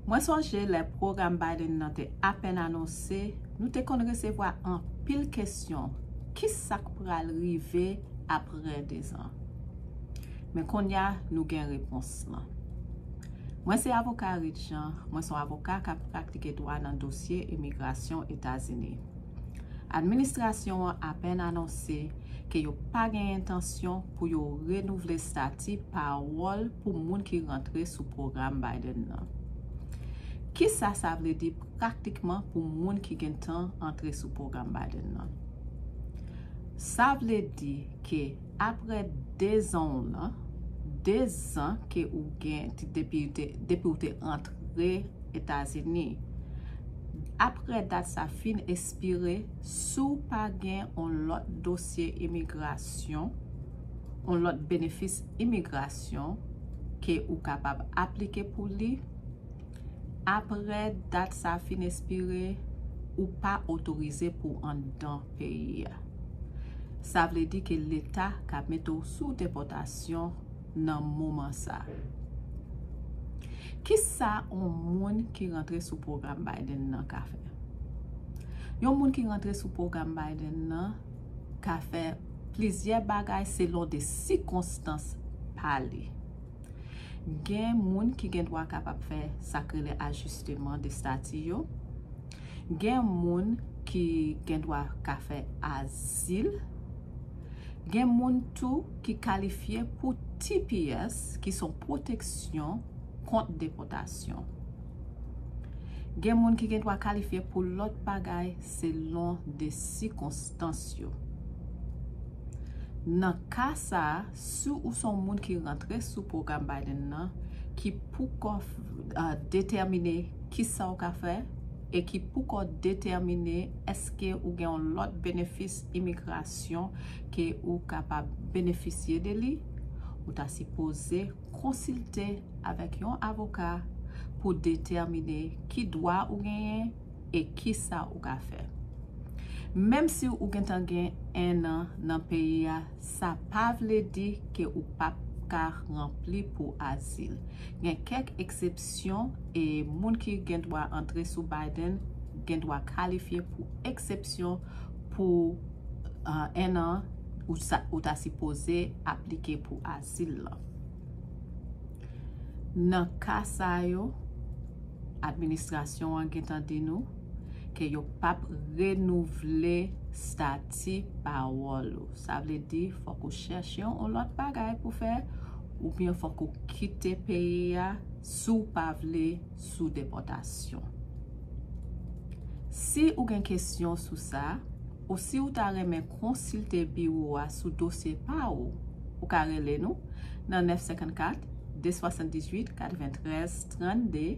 Mwen sonje lè pwogram Biden nan te apèn anonse, nou te konn resevwa anpil kesyon, ki sa k pral rive apre dezan? Men konnya nou gen repons lan. Mwen se avoka Reed Jean, mwen s on avoka k ap praktike dwa nan dosye imigrasyon Etazini. Administrasyon an apèn anonse ke yo pa gen entansyon pou yo renouvle stati pawòl pou moun ki rantre sou pwogram Biden nan. Kisa sa vle di praktikman pou moun ki gentan antre sou pwogram Biden nan? Sa vle di ke. Aprè 2 zan w lan, 2 zan ke ou gen depi ou te antre Etazini, aprè dat sa fin espire, si w pa gen on lòt dosye imigrasyon, on lòt benefis imigrasyon ke ou kapab aplike pou li, Apre dat sa fin espire, ou pa otorize pou w anndan peyi a. Sa vle di ke leta ka mete w sou depòtasyon nan moman sa. Kisa yon moun ki rantre sou pwogram Biden nan ka fè? Yon moun ki rantre sou pwogram Biden nan ka fè plizyè bagay selon de sikonstans pa li. Gen moun ki gen dwa kapab fè sa k rele ajisteman de stati yo. Gen moun ki gen dwa ka fè azil. Gen moun tou ki kalifye pou tps ki son pwoteksyon kont depòtasyon. Gen moun ki gen dwa kalifye pou lòt bagay selon de sikonstans yo. Nan ka sa a. Si ou son moun ki rantre sou pwogram Biden nan ki poukò detèmine kisa ou ka fè e ki poukò detèmine eske ou gen yon lòt benefis imigrasyon ke ou kapab benefisye de li, ou ta sipoze konsilte avèk yon avoka pou detèmine ki dwa ou genyen e kisa ou ka fè. Menm si ou gentan gen 1 an nan peyi a, Sa pa vle di ke ou pap ka ranpli pou azil. Gen kèk eksepsyon e moun ki gen dwa antre sou Biden gen dwa kalifye pou eksepsyon pou 1 an ou ta sipoze aplike pou azil lan. Nan ka sa yo, administrasyon an gentan di nou. ke yo pap renouvle stati pawòl ou. Sa vle di fòk ou chèche yon lòt bagay pou fè oubyen fòk ou kite peyi a si w pa vle sou depòtasyon. Si ou gen kesyon sou sa, ou si ou ta renmen konsilte biwo a sou dosye pa ou, ou ka rele nou nan 954 278 93 32.